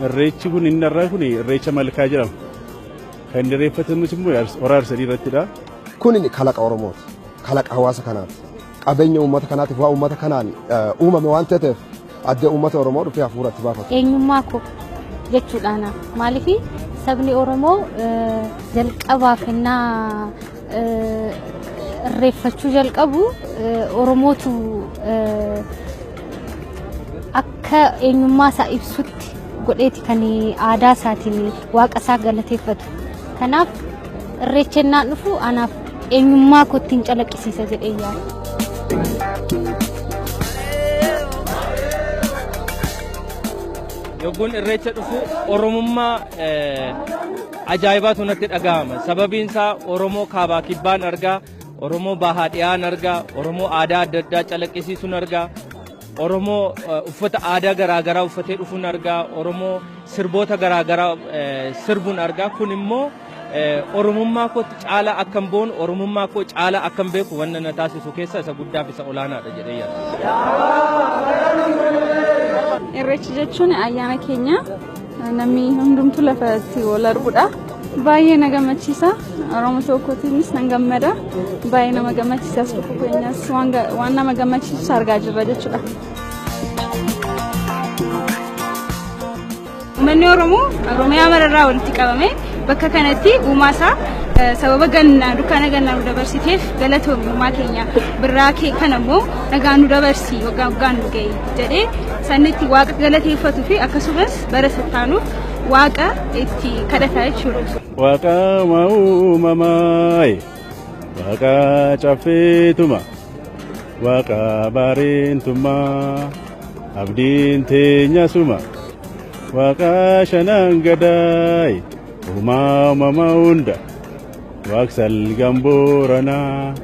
Irreechi kun inni irraa kun irreecha malkaa jedhama. Kan inni irreeffatamus immoo hora harsadii irrattidha. Kun kalaqa Oromooti. Kalaqa hawaasa kanaati. Qabeenya uummata kanaatiif waa uummata kanaan uumame waan ta'eef addee uummata Oromoo dhufee hafuura itti baafatu. Eenyummaa koo jechuudhaan maaliif sabni Oromoo jalqabaaf hennaa irreeffachuu jalqabu Oromootu akka eenyummaa isaa ibsutti godheeti kan aadaa isaatiin waaqa isaa galateeffatu. Kanaaf irreechi hennaa dhufu anaaf eenyummaa kottiin calaqqisiisa jedhee yaada. Yogguun irreecha dhufu Oromummaa ajaa'ibaatu natti dhaga'ama. Sababiin isaa Oromoo kaabaa kibbaan argaa, Oromoo bahaa dhiyaan argaa, Oromoo aadaa adda addaa calaqqisiisuun argaa, Oromoo uffata aadaa garaagaraa uffatee dhufuun argaa, Oromoo sirboota garaagaraa sirbuun argaa. Kun immoo Oromummaa kootti caalaa akkan boonu, Oromummaa koo caalaa akkan beeku wanna na taasisu keessaa isa guddaaf isa olaanaadha jedhee yaada. Irreechi jechuun ayyaana keenya namni hundumtu lafa itti wal arguudha. Baay'ee na gammachiisa. Oromo tokkootiinis nan gammada. Baay'ee nama gammachiisa as dhufu keenyas waan ga- waan nama gammachiisus argaa jirra jechuudha. Uummanni Oromoo Oromiyaa mararraa walitti qabame bakka kanatti uumaa isaa eh, sababa gannaa dukkaana gannaa nu dabarsiteef galatoomi uumaa keenya birraa kee kana immoo nagaa nu dabarsi waggaa waggaan nu ga'i jedhee sanni itti waaqa galateeffatuu fi akkasumas bara sattaanuuf waaqa itti kadhataa jechuudha. Waaqaa uumamaa, waaqaa caffeetuma. Waaqa baareentummaa abdiin teenya suma waaqa shanan gadaay uumaa uumama hunda waaqsal gambooranaa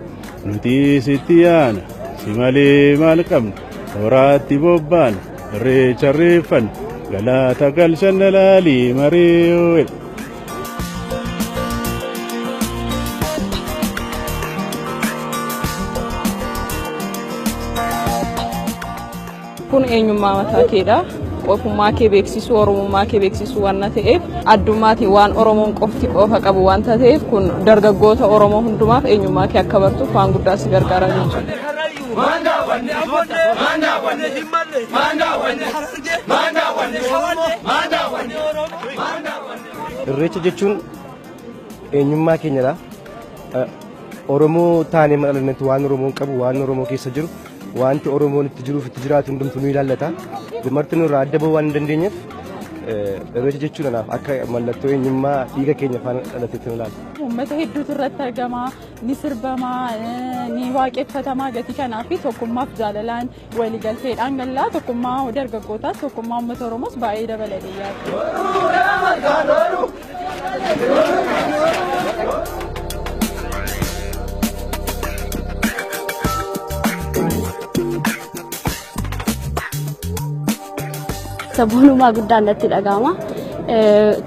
nuti sitti yaana si malee maal qabna horaatti bobbaan irreecha irreeffanna galaata galchanna laalii maree oo'e. kun eenyummaa mataa keedha ofummaa kee beeksisuu oromummaa kee beeksisuu waan ta'eef addummaatiin waan oromoon qofti qoofa qabu waan ta'eef kun dargaggoota oromoo hundumaaf eenyummaa kee akka bartuuf waan guddaa si gargaara jechuudha. Irreecha jechuun eenyummaa keenyadha. Oromoo taanee madhalannetti waan Oromoon qabu, waan Oromoo keessa jiru, wanti Oromoon itti jiruuf itti jiraatu hundumtuu ni ilaallata. Marti nurraa adda bahuu waan hin dandeenyeef irreecha jechuun anaaf akka mallattoo eenyummaa dhiiga keenya faana dhalateetti ilaala. Uummata hedduutu irratti argama, ni sirbama, ni waaqeffatamaa gatii kanaa fi tokkummaaf jaalalaan waligalteedhaan gallaa tokkummaa dargaggootaas tokkummaa uummata Oromoos baay'ee dabaladee yaada. Saboonumaa guddaan natti dhaga'ama.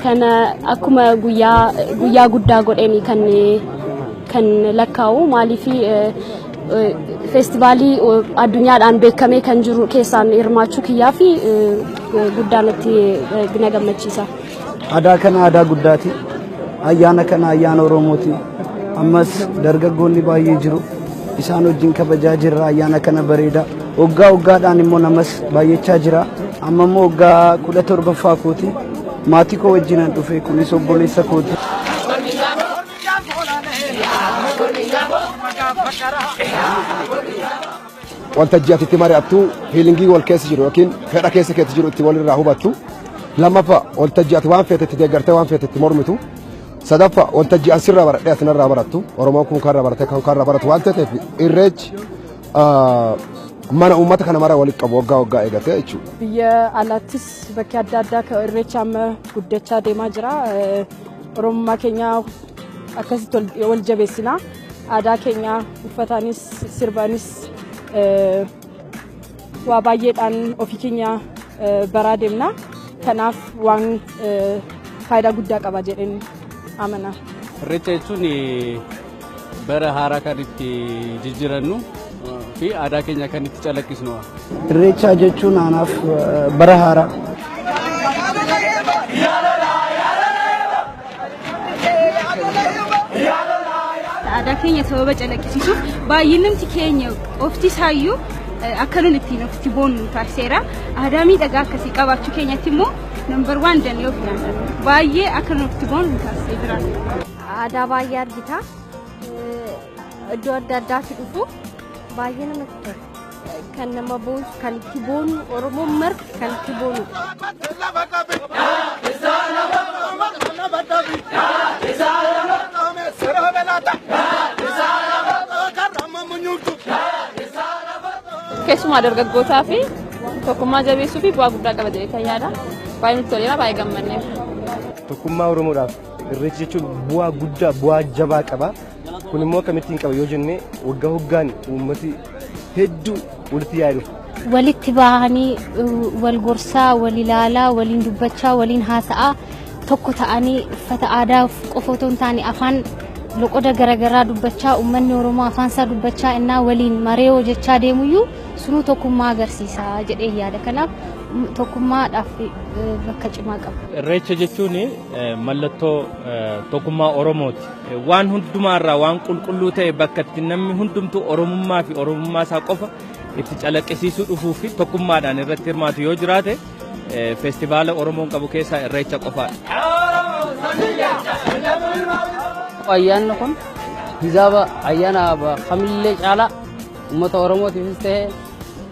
Kana akkuma guyyaa guddaa godheen kan kan lakkaa'u maaliif feestivaalii addunyaadhaan beekamee kan jiru keessaan hirmaachuu kiyyaa fi guddaa natti na gammachiisa. Adaa kana adaa guddaati. Ayyaana kana ayyaana Oromooti. Ammas dargaggoonni baay'ee jiru. Isaan wajjin kabajaa jirra ayyaana kana bareeda. Waggaa waggaadhaan immoo namas baay'achaa jira. Amma immoo waggaa kudha torbaffaa kooti. Maatii koo wajjinan dhufe kunis obboleessa kooti. Waltajjii ati itti mari'attu fiilingii wal keessa jiru yookiin fedha keessa keetti jiru itti walirraa hubattu. Lammaffaa waltajjii ati waan feete itti deeggartee waan feete itti mormitu. Sadaffaa waltajjii an sirraa baradhee ati narraa barattu. Oromoon kun kanarraa baratee kan kanarraa baratu waan ta'eef irreechi ah, mana uummata kana mara walitti qabu waggaa waggaa eegatee jechuudha. Biyya alaattis bakki adda addaa akka irreecha amma guddachaa deemaa jira. Eh, Oromummaa keenya akkasitti wal- wal jabeessinaa. Aadaa keenya uffataanis sirbaanis waa baay'eedhaan ofii keenya baraa deemna. Kanaaf waan faayidaa guddaa qaba jedheen amana. Irreecha jechuun bara haaraa kan itti jijjiirannu fi aadaa keenya kan itti calaqqisnu. Irreecha jechuun aanaaf bara haaraa. Aadaa keenya sababa calaqqisiisuuf baay'inumti keenya qofti isaayyuu akka nun ittiin ofitti boonnu taasiseera. Aadaa miidhagaa akkasii qabaachuu keenyatti immoo nambar waan danee of nyaata. Baay'ee akka nun ofitti boonnu taasisee jira. Aadaa baay'ee argita. Iddoo adda addaatti dhufu baay'ee namatti tola. kan nama boonsu kan itti boonu oromoon marti kan itti boonu. Keessumaa dargaggootaa fi tokkummaa jabeessuu fi bu'aa guddaa qaba jedhee kan yaada. Baay'ee nutti toleera baay'ee gammanneef. Tokkummaa Oromoodhaaf irreechi jechuun bu'aa guddaa bu'aa jabaa qaba. Kun immoo akkamittiin qaba yoo jenne waggaa waggaan uummati hedduu walitti yaa'ee dhufa. Walitti bahanii wal gorsaa, wal ilaalaa, waliin dubbachaa, waliin haasa'aa tokko ta'anii uffata aadaa qofa otoo hin taane afaan loqoda garaagaraa dubbachaa uummanni Oromoo afaan isaa dubbachaa innaa waliin maree hojjechaa deemuyyuu sunuu tokkummaa agarsiisa jedhee yaada. Kanaaf tokkummaadhaaf bakka cimaa qaba. Irreecha jechuun mallattoo tokkummaa Oromooti. Waan hundumaa irraa waan qulqulluu ta'e bakka itti namni hundumtuu Oromummaa fi Oromummaa isaa qofa itti calaqqisiisuu dhufuu fi tokkummaadhaan irratti hirmaatu yoo jiraate feestivaala Oromoon qabu keessaa Irreecha qofaadha. Ayyaanni kun hijaaba ayyaana kamillee caalaa uummata Oromootiifis ta'e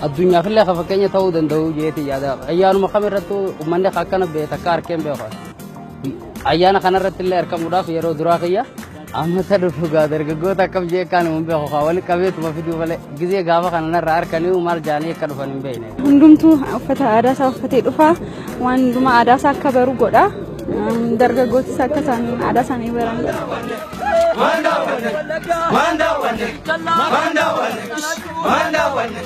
addunyaafillee kan fakkeenya ta'uu danda'u jeetii yaada. Ayyaanuma kamirrattuu uummanni akkana beekta akka harkeen beeku. Ayyaana kanarratti illee argamuudhaaf yeroo duraa kiyya ammata dhufu gaa dargaggoota akkam jee akkaan hin beeku kaa walitti qabeetuma fiduu malee gizee gaafa kana narraa harkanii maal jaanii akka dhufan hin beekne. Hundumtuu uffata aadaa isaa uffatee dhufa waan hundumaa aadaa isaa akka baru godha dargaggootis akka isaanii aadaa isaanii baran godha. Waan daawwanne waan daawwanne waan daawwanne waan daawwanne.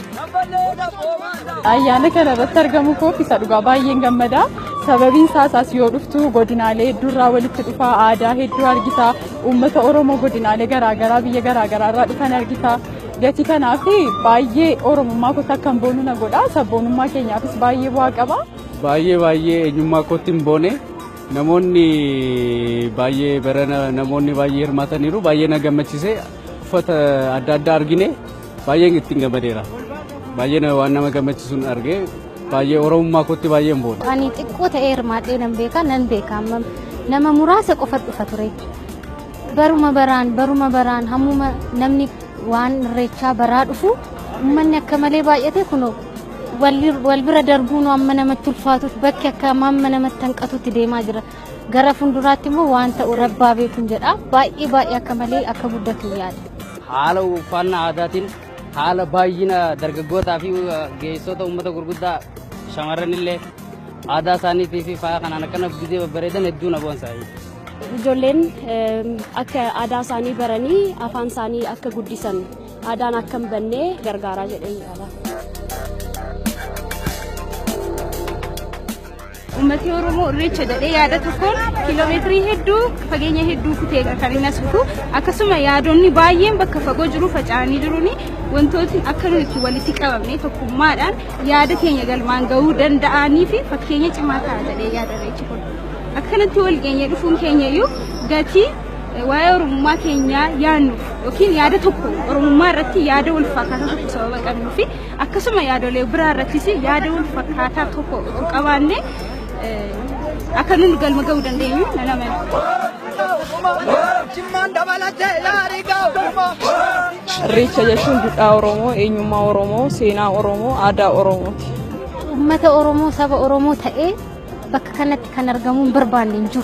Ayyaana kana irratti argamu koof isa dhugaa baay'een gammada. Sababiin isaas as yoo dhuftu godinaalee hedduurraa walitti dhufaa aadaa hedduu argita. Uummata Oromoo godinaalee garaagaraa biyya garaagaraa irraa dhufan argita. Gatii kanaaf baay'ee Oromummaa kootti akkan boonu na godha. Sabboonummaa keenyaafis baay'ee bu'aa qaba. Baay'ee baay'ee eenyummaa kootti hin boone. Namoonni baay'ee barana namoonni baay'ee hirmaataniiru. Baay'ee na gammachiise. Uffata adda addaa argine. Baay'een ittiin gammadeera. Baay'een waan nama gammachisuun argee baay'ee oromummaa kootti baay'een booda. Ani xiqqoo ta'ee hirmaadhee nan beeka nan beeka amma nama muraasa qofa dhufa ture. Baruma baraan baruma baraan hammuma namni waan irreechaa baraa dhufu uummanni akka malee baay'ate kunoo wal bira darbuun amma namatti ulfaatutti bakki akka amma namatti hanqatutti deemaa jira. Gara fuulduraatti immoo waan ta'u rabbaa beekun jedha. Baay'ee baay'ee akka malee akka guddatu yaada. Haala uffannaa aadaatiin haala baay'ina dargaggootaa fi geessota uummata gurguddaa shamarran illee aadaa isaaniitii fi faaya kanaan akkana bidee babbareedan hedduu na boonsa. Ijoolleen akka aadaa isaanii baranii afaan isaanii akka guddisan aadaan akka hin banne gargaaraa jedhee yaada. Uummatni Oromoo Irreecha jedhee yaada tokkoon kiiloomeetirii hedduu fageenya hedduu kutee kan inni as dhufu akkasuma yaadonni baay'een bakka fagoo jiru faca'anii jiruuni wantootni akka nuyi itti walitti qabamne tokkummaadhaan yaada keenya galmaan gahuu danda'anii fi fakkeenya cimaa ta'a jedhee yaada irreechi kun. Akkanatti wal geenyee dhufuun keenya iyyuu gatii waa'ee oromummaa keenyaa yaannuuf yookiin yaada tokko oromummaa irratti yaada wal fakkaataa tokko sababa qabnuufi Akkasuma yaadolee biraa irrattis yaada wal fakkaataa tokko utuu qabaanne akka nuti galma ga'uu dandeenyu nan amana. Irreecha jechuun duudhaa Oromoo, eenyummaa Oromoo, seenaa Oromoo, aadaa Oromooti. Uummata Oromoo, saba Oromoo ta'ee bakka kanatti kan argamuun barbaanne hin jiru.